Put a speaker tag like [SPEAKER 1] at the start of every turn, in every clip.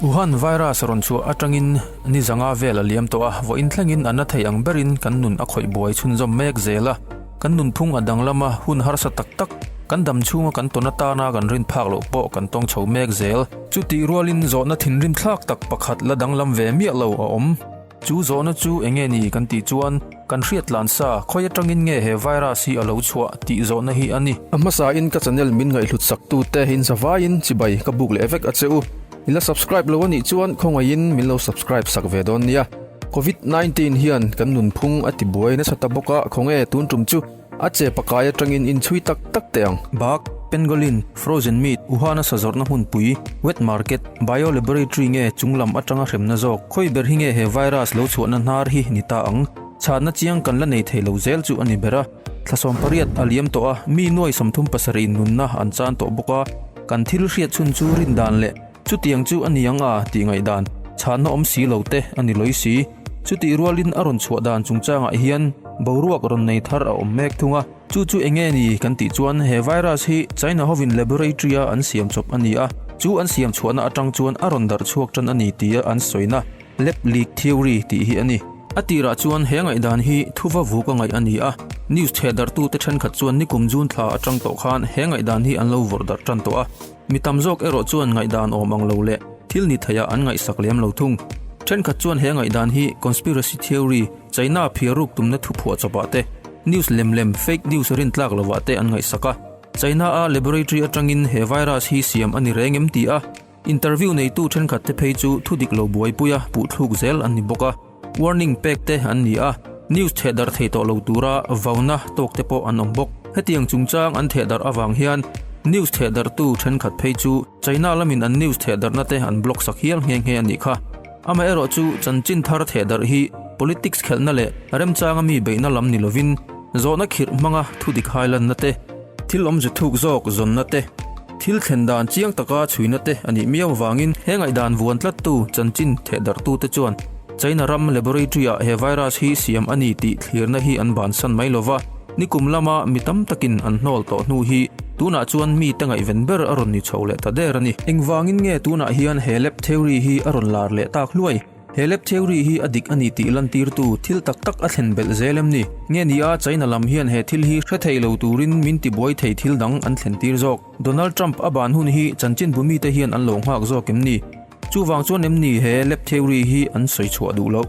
[SPEAKER 1] Wuhan virus rawn chhuah atangin nizanga vel a liam tawh a, vawiin thlengin a na thei ang berin kan nun a khawih buai chhunzawm mek zel a, kan nunphung a danglam a, hun harsa tak tak, kan dam chhunga kan tawn atana kan rin phak loh pawh kan tawng chho mek zel. Chutih rualin zawhna thinrim thlak tak pakhat la danglam ve miah lo a awm. Chu zawhna chu eng nge ni kan tih chuan kan hriatlan sa khawi atangin nge he virus hi a lo chhuah tih zawhna hi a ni. A hmasain ka channel min ngaihhlut saktute in zavaiin chibai ka buk leh vek a che u. I la subscribe lo a nih chuan khawngaihin min lo subscribe sak ve dawn nia. Covid nineteen hian kan nunphung a tibuai nasa ta bawk a, khawnge tun tum chu? A che pakai atangin inchhui tak tak teh ang. Bak, Pangolin, Frozen Meat, Wuhan a sa zawrhna hmunpui, Wet Market, Bio Laboratory nge chung lam atanga hremna zawk, khawi ber hi nge he virus lo chhuahna hnar hi ni ta ang. Chhatna chiang kan la nei thei lo zel chu a ni ber a. Thlasawm pariat a liam tawh a, mi nuai sawmthum pasarih in nunna an chan tawh bawk a, kan thil hriat chhun chu rindan leh, Chutiang chu a ni ang a tih ngaihdan chhânna awm si lo te a ni lawih si. Chutih rualin a rawn chhuah dan chungchangah hian boruak rawn nei thar a awm mêk thung a. Chu chu eng nge ni kan tih chuan he virus hi China hovin laboratory-a an siam chawp a ni a, chu an siam chhuahna aṭang chuan a rawn darh chhuak ṭan a ni tia an sawi na, lab leak theory, tih hi a ni. A tirah chuan he ngaihdan hi thu va vuk a ngaih a ni a, news chhehdarhtute ṭhenkhat chuan nikum June thla aṭang tawh khan he ngaihdan hi an lo vawrh darh ṭan tawh a. Mi tam zawk erawh chuan ngaihdan awm ang lo leh thil ni thaiha an ngaihsak lem lo thung. Thenkhat chuan he ngaihdan hi conspiracy theory, China-a phiar ruk tumna thu phuah chawp ah te, news lem lem, fake news, rin tlak lo ah te an ngaihsak a. China-a laboratory atangin he virus hi siam a ni reng em tih a interview neitu thenkhat te phei chu thudik lo buaipuia puhthluk zel an ni bawk a. Warning pek te an ni a, news theh darh thei tawh lo tura vauna tawk te pawh an awm bawk. Hetiang chungchang an theh darh avang hian news theh darhtu thenkhat phei chu China lamin an news theh darhna te an block sak hial nghe nghe a nih kha. Amaherawh chu chanchin thar theh darh hi politics khelhna leh remchanga mi beihna lam ni lovin zawhna khirh hmanga thudik hailanna te, thil awmze thuk zawk zawnna te, Thil thlen dan chiang taka chhuina te a nih miau avangin he ngaihdan vuan tlattu chanchin thehdarhtute chuan China ram laboratory-ah he virus hi siam a ni tih thlirna hi an bansan mai lo va, nikum lama mi tam takin an hnawl tawh hnu hi tunah chuan mite ngaihven ber a rawn ni chho leh ta der a ni. Engvangin nge tunah hian he lab theory hi a rawn lar leh tak hluai? He lep theory hi a dik a ni tih lantirtu thil tak tak a thlen belh zel em ni? Nge ni a, China lam hian he thil hi hre thei lo turin min ti buai thei thil dang an thlen tir zawk. Donald Trump a ban hun hi chanchin bu mite hian an lo nghak zawk em ni? Chuvang chuan em ni he lep theory hi an sawi chhuah duh loh?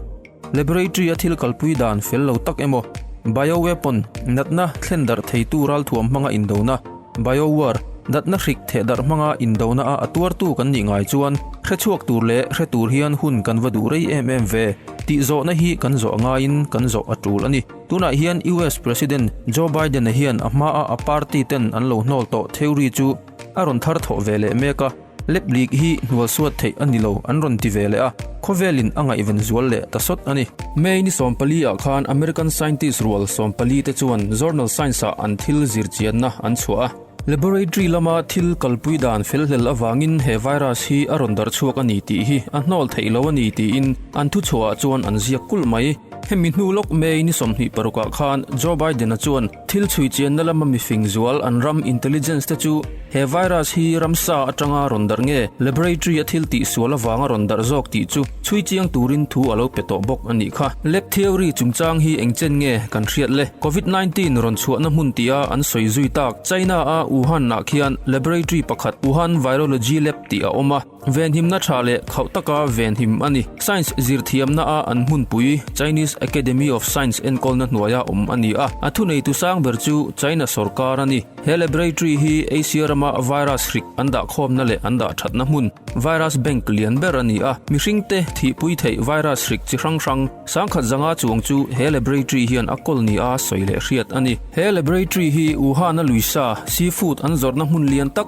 [SPEAKER 1] Laboratory a thil kalpui dan fel lo tak emaw? Bio weapon, natna, thlen darh theitu ralthuam hmanga indona, Biowar, Datna hrik theh darh hmanga indona a a tuartu kan nih ngai chuan hrechhuak tur leh hre tur hian hun kan va duh rei em em ve tih zawhna hi kan zawh ngaiin kan zawh a tul a ni. Tunah hian US President Joe Biden-a hian a hmaa a party-ten an lo hnawl tawh theory chu a rawn thar thawh ve leh mek a. Lep lik hi hnual suat theih a ni lo an rawn ti ve leh a, khawvelin a ngaihven zual leh ta sawt a ni. May ni sawm pali ah khan American scientist rual sawm pali te chuan journal Science ah an thil zir chianna an chhuah a. Laboratory lama thil kalpui dan felhlel avangin he virus hi a rawn dar chhuak a ni tih hi a hnawl theih lo a ni tiin an thuchhuah ah chuan an ziak kulh mai. Hemi hnu lawk May ni sawmhnih paruk ah khan Joe Biden-a chuan Thil chhui chianna lama mifing zual an ram intelligence te chu he virus hi ramsa atanga rawn darh nge laboratory a thil tih sual avanga rawn darh zawk tih chu chhui chiang turin thu a lo pe tawh bawk a nih kha. Lab theory chungchang hi engchen nge kan hriat le? Covid nineteen rawn chhuahna hmun tia an sawi zui tak China-a Wuhan-ah khian laboratory pakhat Wuhan Virology Lab tih a awm a, Venhimna tha leh khauh taka venhim a ni. Science zirthiamna a an hmunpui Chinese Academy of Science enkawlna hnuaia awm a ni a. A thunei tu sang ber chu China sorkar a ni. He laboratory hi Asia rama virus hrik an dahkhawmna leh an dah thatna hmun, virus bank, lian ber a ni a. Mihringte thihpui theih virus hrik chi hrang hrang sangkhat zanga chuang chu he laboratory hian a kawl ni a sawi leh hriat a ni. He laboratory hi Wuhan-a luisa, seafood, an zawrhna hmun lian tak,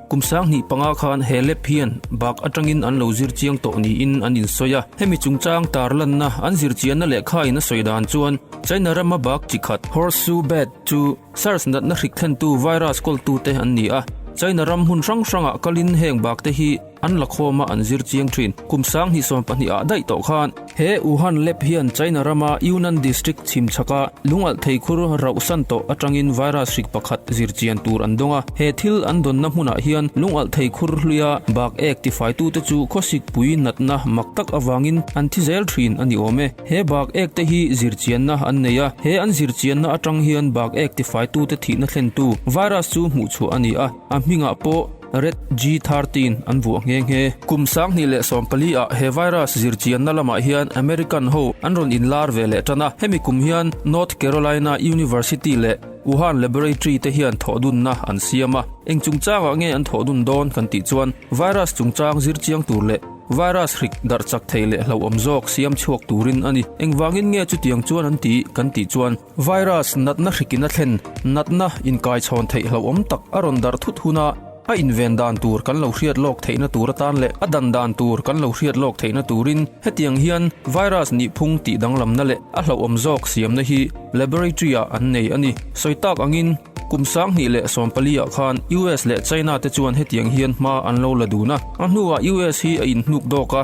[SPEAKER 1] Kum sang hnih panga khan he lap hian bak atangin an lo zir chiang tawh niin an insawi a. Hemi chungchang tar lanna an zir chianna lehkhain a sawi dan chuan China rama bak chi khat, horseshoe bat, chu SARS natna hrik thlentu virus kawltute an ni a. China ram hmun hrang hrangah kalin heng bakte hi an la khawma an zir chiang thin. Kum sang hnih sawmpahnih ah daih tawh khan, He Wuhan lab hian China rama Yunnan District chhimchhaka lungalh thei khur rauh san tawh atangin virus hrik pakhat zir chian tur an dawng a. He thil an dawnna hmunah hian lungalh thei khur hluia bak ek tifaitute chu khawsik pui natna mak tak avangin an thi zel thin a ni awm e. He bak ek te hi zir chianna an nei a. He an zir chianna atang hian bak ek tifaitute thihna thlentu virus chu hmuh chhuah a ni a, a hmingah pawh, Red G thirty in an vuah nghe nghe. Kum sanghnih leh sawmpali ah he virus zir chianna lamah hian American ho an rawn inlar ve leh tan a. Hemi kum hian North Carolina University leh Wuhan Laboratory te hian thawhdunna an siam a. Engchungchangah nge an thawhdun dawn kan tih chuan virus chungchang zir chiang tur leh virus hrik darh chak thei leh hlauhawm zawk siam chhuak turin a ni. Engvangin nge chutiang chuan an ti kan tih chuan. Virus natna hrikin a thlen natna inkaichhawn theih hlauhawm tak a rawn darh thut huna a inven dan tur kan lo hriat lawk theihna tur atan leh a dan dan tur kan lo hriat lawk theihna turin hetiang hian virus nih phung tih danglamna leh a hlauhawm zawk siamna hi laboratory-ah an nei a ni. Sawi tak angin, kum sanghnih leh sawm paliah khan US leh China-te chuan hetiang hian hma an lo la dun a, a hnuah US hi a inhnuk dawk a.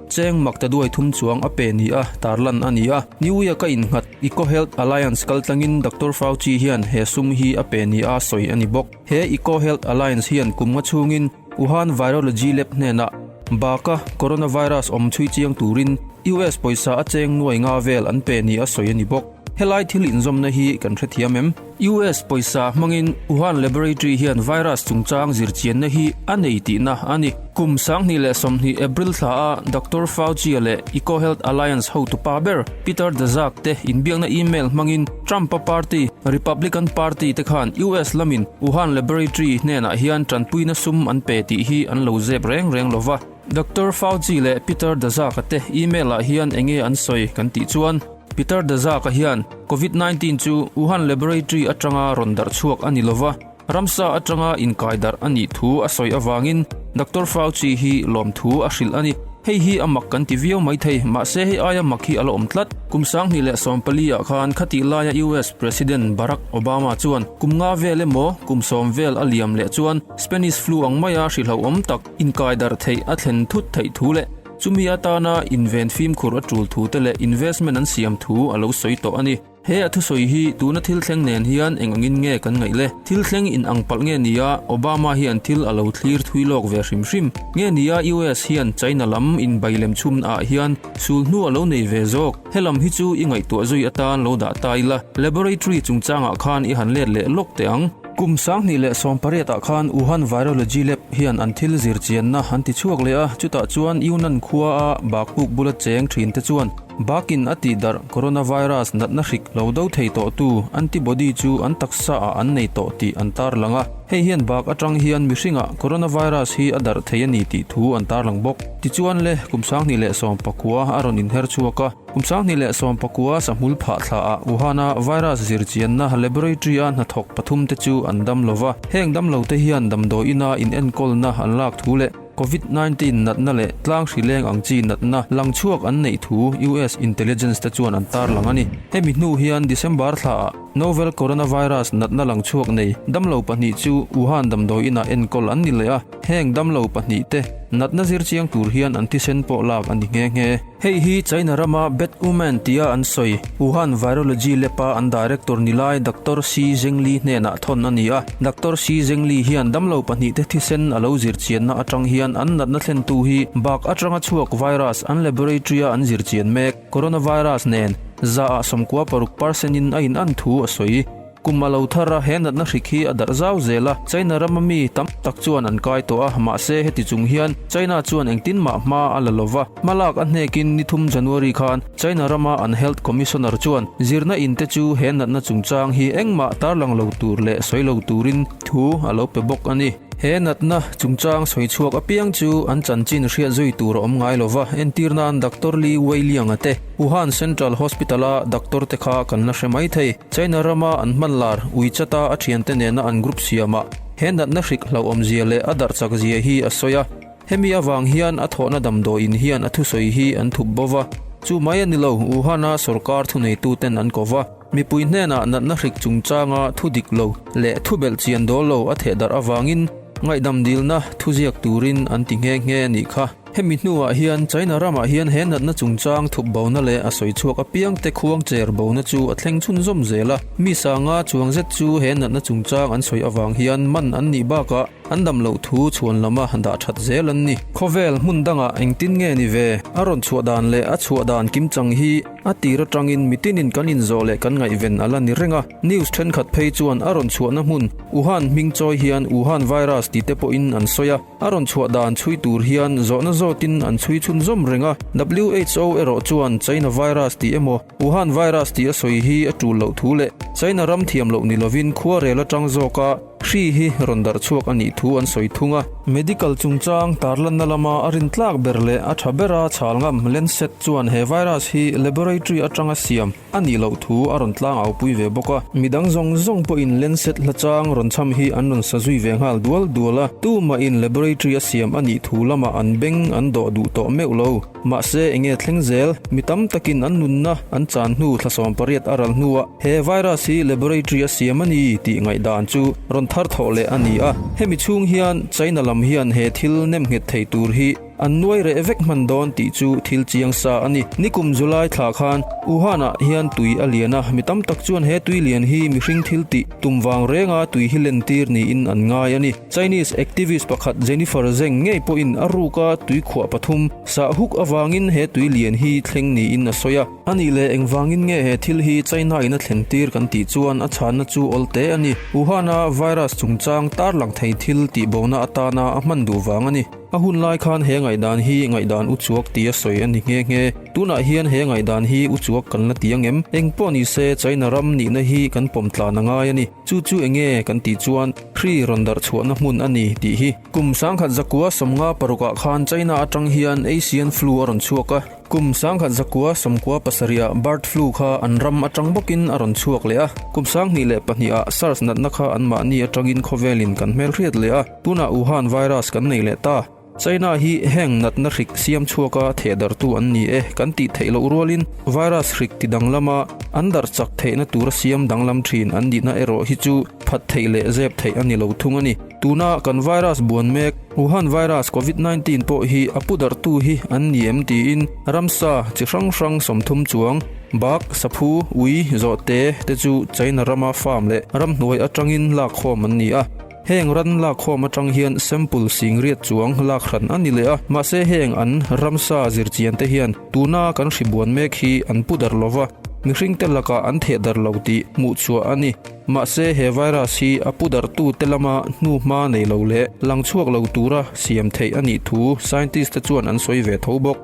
[SPEAKER 1] Cheng mak ta duai thum chuang a pe ni a, tarlan a ni a. New Year ka innghat, EcoHealth Alliance kal tlangin Doctor Fauci hian he sum hi a pe ni a sawi a ni bawk. He EcoHealth Alliance hian kum nga chhungin Wuhan Virology Lab hnenah baka coronavirus awm chhui chiang turin US pawisa a cheng nuai nga vel an pe ni a sawi a ni bawk. Helai thil inzawmna hi kan hrethiam em? US pawisa hmangin Wuhan Laboratory hian virus chungchang zirchianna hi a nei tihna a ni. Kum sanghnih leh sawmhnih April thlaah Doctor Fauci-a leh EcoHealth Alliance hotupa ber Peter Daszak te inbiakna email hmangin Trump-a party, Republican Party te khan US lamin Wuhan Laboratory hnenah hian tanpuina sum an pe tih hi an lo zep reng reng lo va. Doctor Fauci leh Peter Daszak-a te email-ah hian eng nge an sawi kan tih chuan, Peter Daszak-a hian Covid nineteen chu Wuhan laboratory atanga rawn darh chhuak a ni lova, ramsa atanga inkaidarh a nih thu a sawi avangin Doctor Fauci hi lawmthu a hrilh a ni. Hei hi a mak kan ti viau mai thei, mahse hei aia mak hi a la awm tlat. Kum sanghnih leh sawm paliah khan khati laia US President Barack Obama chuan kum nga vel emaw kum sawm vel a liam leh chuan Spanish flu ang maia hrihlauhawm tak, Inkaidarh theih a thlen thut theih thu leh chumi atana inven fimkhur a tul thu te leh investment an siam thu a lo sawi tawh a ni. He a thusawi hi tuna thil thleng nen hian eng angin nge kan ngaih le? Thil thleng in ang palh nge nia Obama hian thil a lo thlir thui lawk ve hrim hrim? Nge nia US hian China lam inbai lem chhumna ah hian sul hnu a lo nei ve zawk? He lam hi chu i ngaihtuah zui atan lo dah ta ila laboratory chungchangah khan i han let leh lawk teh ang. Kum sanghnih leh sawmpariatah khan Wuhan Virology Lab hian an thil zir chianna an ti chhuak leh a, chutah chuan Yunnan khuaa bakpuk bula cheng thinte chuan bakin a tih darh coronavirus natna hrik lo do thei tawhtu antibody chu an taksa ah an nei tawh tih an tarlang a, hei hian bak atang hian mihringah coronavirus hi a darh thei a ni tih thu an tarlang bawk. Tichuan le kum sanghnih leh sawmpa khua a rawn inher chhuak a. Kum Sanghnih leh Sawmpakua sahmul phah thla ah Wuhan a virus zir chian na laboratory a hnathawk pathum te chu an dam lo va, heng dam lo te hian damdawi in a in enkawl na an lak thu leh Covid nineteen nat na leh tlang hrileng ang chi nat na lang chhuak an neih thu US intelligence te chuan an tar lang a ni. Hemi hnu hian December thla ah novel coronavirus nat na lang chhuak nei dam lo pahnih chu Wuhan damdawi in a enkawl an ni leh a, Heng damlo pahnih te natna zir chiang tur hian an thisen pawh lak a ni nghe nghe. Hei hi China rama Bad Omen tia an sawi Wuhan Virology Lab-a an Director ni lai Doctor Shi Zhengli hnenah thawn a ni a. Doctor Shi Zhengli hian damlo pahnih te thisen a lo zir chianna atang hian an natna thlentu hi bak atanga chhuak virus an laboratory-a an zir chian mek coronavirus nen za-ah sawmkua paruk parsenin a in an thu a sawi. Kum a lo thar a, he natna hrik hi a darh zau zel a, China ram a mi tam tak chuan an kai tawh a, mahse heti chung hian China chuan engtin mah hma a la lo va, hma lak a hnekin ni thum January khan China rama an Health Commissioner chuan zirna in te chu he natna chungchang hi engmah tarlang lo tur leh sawi lo turin thu a lo pe bawk a ni. He natna chungchang sawi chhuak apiang chu an chanchin hriat zui tur a awm ngai lo va, entir nan Doctor Liu Weilianga te, Wuhan Central Hospital-a doctor-te kha kan la hre mai thei. China rama an hmanlar Wechat-a a thiante nena an group siamah he natna hrik hlauhawmzia leh a darhchakzia hi a sawi a, hemi avang hian a thawhna damdawiin hian a thusawi hi an thup bo va, chu mai a ni lo, Wuhan-a sorkar thuneituten an ko va. Mipui hnenah natna hrik chungchanga thu dik lo leh thu belh chian dawl lo a thehdarh avangin ngaihdam dilna thu ziak turin an ti nghe nghe a nih kha. Hemi hnuah hian China ramah hian he natna chungchang thup bona leh a sawi chhuak apiangte khuang cher bona chu a thleng chhun zawm zel a. Mi sanga chuang zet chu he natna chungchang an sawi avang hian man an nih bakah an dam loh thu chhuan lama dah that zel an ni. Khawvel hmun dangah engtin nge ni ve a rawn chhuah dan leh a chhuah dan kim chang hi? A tir atangin mitinin kan inzawh leh kan ngaihven a la ni reng a. News thenkhat phei chuan a rawn chhuahna hmun Wuhan hming chawi hian Wuhan Virus tih te pawhin an sawi a. A rawn chhuah dan chhui tur hian zawhna zawtin an chhui chhun zawm reng a. Who erawh chuan China Virus tih emaw Wuhan Virus tih a sawi hi a tul loh thu leh China ram thiam loh ni lovin khuarel atang zawk a, Hri hi rawn darh chhuak a nih thu an sawi thung a. Medical chungchang tarlanna lama a rin tlak ber leh a tha bera chhal ngam Lancet chuan he virus hi laboratory atanga siam a nih loh thu a rawn tlang au pui ve bawk a. Mi dang zawng zawng pawhin Lancet hlachang rawn cham hi an rawn sa zui ve nghal dual dual a, tumahin laboratory a siam a nih thu lamah an beng an dawh duh tawh meuh lo. Mahse, eng nge thleng zel? Mi tam takin an nunna an chan hnu thlasawm pariat a ral hnuah he virus hi laboratory a siam a ni tih ngaihdan chu rawn thar thawh leh a ni a. Hemi chhung hian China lam hian he thil nem nghet thei tur hi an nuai reh vek hman dawn tih chu thil chiang sa a ni. Ni kum July thla khan Wuhan-ah hian tui a lian a, mi tam tak chuan he tui lian hi mihring thil tih tum vang renga tui hi lentir niin an ngai a ni. Chinese activist pakhat Jennifer Zheng ngei pawhin a ruka tui khuah pathum sah huk avangin he tui lian hi thleng niin a sawi a. A nih leh engvangin nge he thil hi China-in a thleng tir kan tih chuan a chhanna chu awl te a ni. Wuhan-a virus chungchang tarlang thei thil tihbona atana a hman duh vang a ni. A hun lai khan he ngaihdan hi ngaihdan uchuak ti a sawi a ni nghe nghe. Tunah hian he ngaihdan hi uchuak kan la ti angem? Engpawh ni se China ram nihna hi kan pawm tlan a ngai a ni. Chu chu eng nge kan tih chuan Kri rawn darh chhuahna hmun a ni tih hi. Kum sangkhat zakua sawmnga paruk ah khan China atang hian Asian Flu a rawn chhuak a. Kum sangkhat zakua sawmkua pasarih ah Bird Flu kha an ram atang bawk in a rawn chhuak leh a. Kum sanghnih leh pahnih ah Sars natna kha an mahni atang in khawvel in kan hmel hriat leh a. Tunah Wuhan Virus kan nei leh ta. China hi heng natna hrik siam chhuaka thehdartu an ni e, kan tih theih loh rualin virus hrik ti danglama an darh chak theihna tura siam danglam thin an nihna erawh hi chu phat theih leh zep theih a ni lo thung a ni. Tuna kan virus buan mek Wuhan virus Covid nineteen pawh hi a pu darhtu hi an ni em tiin ramsa chi hrang hrang sawmthum chuang, bak, saphu, ui, zawhte te chu China rama farm leh ramhnuai atangin lakkhawm an ni a. Heng ran lakhawm atang hian sample singriat chuang lak hran a ni leh a, mahse heng an ramsa zirchian te hian tuna kan hri buan mek hi an pu dar lova, mihring te lakah an theh dar lo tih hmuh chhuah a ni. Mahse he virus hi a pu dar tu te lama hnu hma nei lo leh lang chhuak lo tura siam theih a nih thu scientist te chuan an sawi ve tho bawk.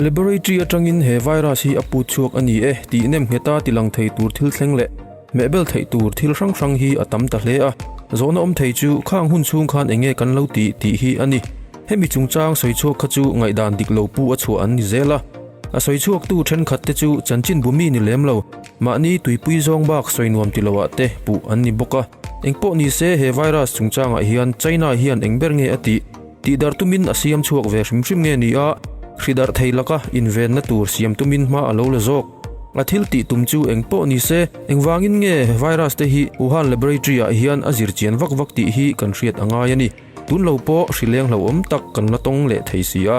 [SPEAKER 1] Laboratory atangin he virus hi a pu chhuak a ni e tih nem ngheta tilang thei tur thil thleng leh. Mehbel theih tur thil hrang hrang hi a tam ta hle a, zawhna awm thei chu khang hun chhung khan eng nge kan lo ti tih hi a ni. Hemi chungchang sawi chhuak kha chu ngaihdan dik lo pu a chhuah an ni zel a. A sawi chhuaktu thenkhat te chu chanchin bu mi ni lem lo, mahni tuipui zawng bak sawi nuam ti lo ah te puh an ni bawk a. Engpawh ni se he virus chungchang ah hian China hian engber nge a tih? Tih darh tumin a siam chhuak ve hrim hrim nge nia, hri darh thei laka invenna tur siam tumin hma a lo la zawk. A thil tih tum chu eng pawh ni se, engvangin nge virus te hi Wuhan laboratory ah hian a zir chian vak vak tih hi kan hriat a ngai a ni. Tun lo pawh hri lenghloh awm tak kan la tawng leh thei si a.